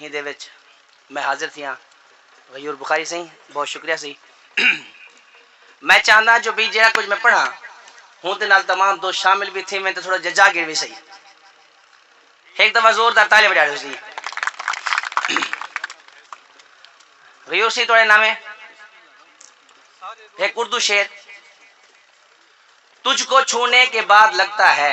ایندے وچ میں حاضر تھیاں۔ غیور بخاری سئیں بہت شکریہ سی۔ میں چاہنداں جو بی جیہڑا کجھ میں پڑھاں ہوندے نال تمام دوست شامل وی تھیون تے تھوڑا جا جاگیر وی سہی۔ ہک دفعہ زور دار تالیاں وجا ڈیو سی۔ غیور سئیں تہاڈے ناویں ہک اردو شعر تجھ کو چھونے کے بعد لگتا ہے۔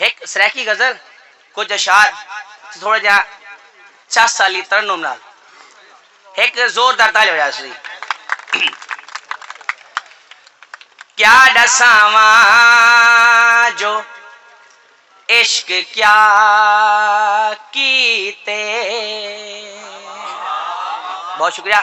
ہک سرائیکی غزل، کجھ اشعار تے تھوڑا جیہا چس آلی ترنم نال ہک زوردار تالیاں وجا ݙیسوں جی۔ کیا ݙساواں جو عشق کیا کیتے۔ بہت شکریہ۔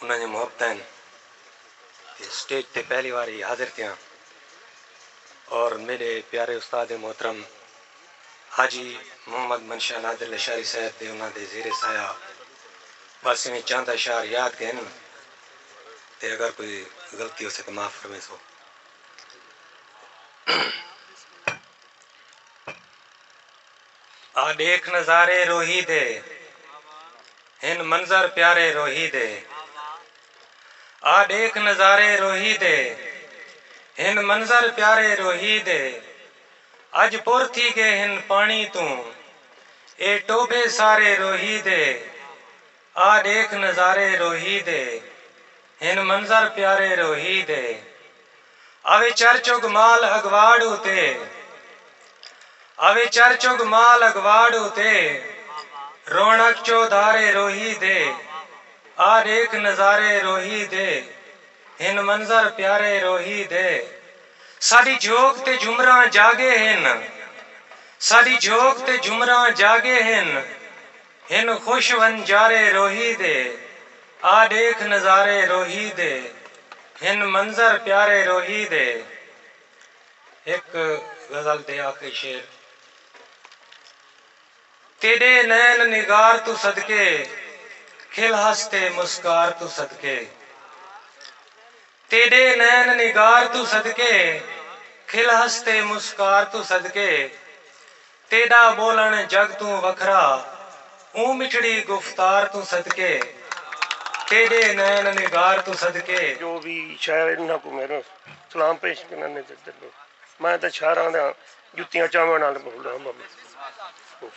انہاں دیاں محبتاں ہن تے سٹیج تے پہلی وار ہی حاضر تھیاں اور میڈے پیارے استاد محترم حاجی محمد منشا نادر لشاری صاحب دے انہاں دے زیر سایہ بس ایویں چند اشعار یاد گئن تے اگر کوئی غلطی ہوسے تے معاف فرمیسو۔ آ ݙیکھ نظارے روہی دے ہن منظر پیارے روہی دے آ ݙیکھ نظارے روہی دے ہن منظر پیارے روہی دے اڄ پر تھی ڳئے ہن پاݨی توں اے ٹوبھے سارے روہی دے آ ݙیکھ نظارے روہی دے ہن منظر پیارے روہی دے اوے چر چگ مال اڳواڑ اتے اوے چر چگ مال اڳواڑ اتے رونق چودھارے روہی دے آ ݙیکھ نظارے روہی دے ہن منظر پیارے روہی دے ساݙی جھوک تے جھمراں جاڳے ہن ساݙی جھوک تے جھمراں جاڳے ہن ہن خوش ونجارے روہی دے آ ڈیکھ نظارے روہی دے ہن منظر پیارے روہی دے ہک غزل دے آخری شعر تیڈے نین نگار توں صدقے کھل ہس تے مسکار توں صدقے تیڈے نین نگار توں صدقے کھل ہس تے مسکار توں صدقے۔ تیݙا ٻولݨ جڳ توں وکھرا اوں مٹھڑی گفتار توں صدقے تیݙے نین نگار توں صدقے۔ جو وی شاعر انہاں کوں میݙا سلام پیش کریندن تے تے تے میں تاں شاعراں دیاں جتیاں چاوݨ نال بھولا ہاں بابا اوف۔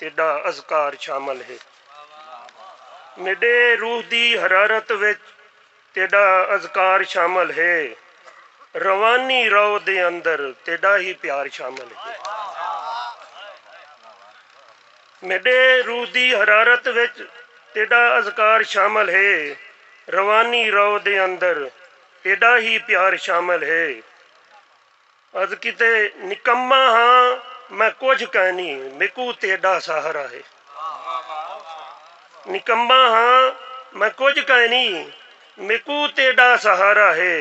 تیݙاں اذکار شامل ہے میݙے روح دی حرارت وچ تیݙا اذکار شامل ہے روانی رو دے اندر تیݙا ہی پیار شامل ہے میݙے روح دی حرارت وچ تیݙا اذکار شامل ہے روانی رو دے اندر تیݙا ہی پیار شامل ہے عرض کیتے نکمہ ہاں میں کجھ کائنی میکو تیڈا سہارا ہے نکمہ ہاں میں کجھ کائنی میکو تیڈا سہارا ہے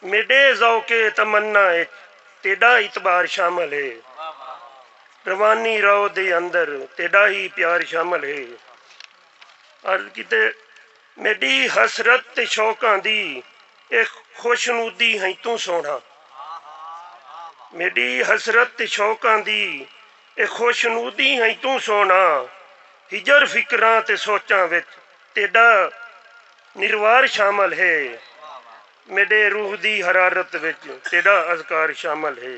میڈے ذوق تمنا اچ تیڈا اعتبار شامل ہے روانی رو دے اندر تیڈا ہی پیار شامل ہے عرض کیتے میڈی حسرت تے شوقاں دی اے خوشنودی ہئیں توں سوہݨا میڈی حسرت تے شوقاں دی اے خوشنودی ہئیں توں سوہݨا ہجر فکراں تے سوچاں وچ تیڈا نروار شامل ہے میڈے روح دی حرارت وچ تیڈا اذکار شامل ہے۔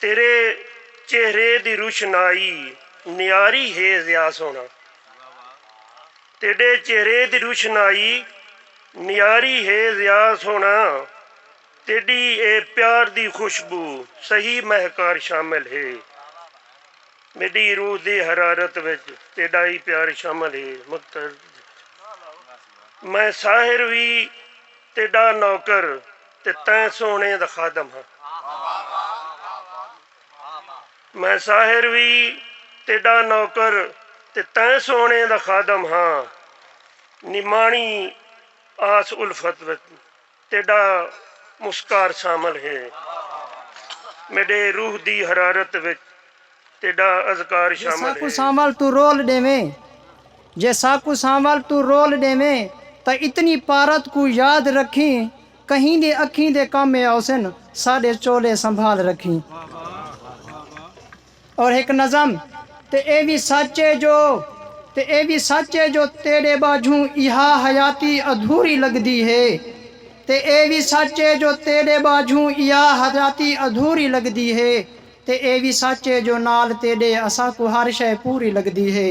تیرے چہرے دی روشنائی نیاری ہے ضیا سوہݨا تیݙے چہرے دی روشنائی نیاری ہے ضیا سوہݨا تیݙی اے پیار دی خوشبو سہی مہکار شامل ہے میݙی روح دی حرارت وچ تیݙا ای پیار شامل ہے مقتدر میں ساحر وی تیݙا نوکر تے تاں سوہݨے دا خادم ہاں میں ساحر وی تیݙا نوکر تے تاں سوہݨے دا خادم ہاں نماݨی آس الفت وچ تیݙا مسکار شامل ہے میݙے روح دی حرارت وچ تیڈا اذکار جے شامل ساکوں ہے۔ سانول توں رول ڈیویں جے ساکوں سانول توں رول ڈیویں تاں اتنی پارت کوں یاد رکھیں کہیں دی اکھیں دے کم اے اوسن ساڈے چولے سنبھال رکھیں اور ہک نظم تے اے وی سچ اے جو تے اے وی سچ اے جو تیڈے باجھوں ایہا حیاتی ادھوری لگدی ہے تے اے وی سچ اے جو تیڈے باجھوں ایہا حیاتی ادھوری لگدی ہے تے ایہ وی سچ ہے جو نال تیݙے اساکوں ہر شئے پوری لڳدی ہے۔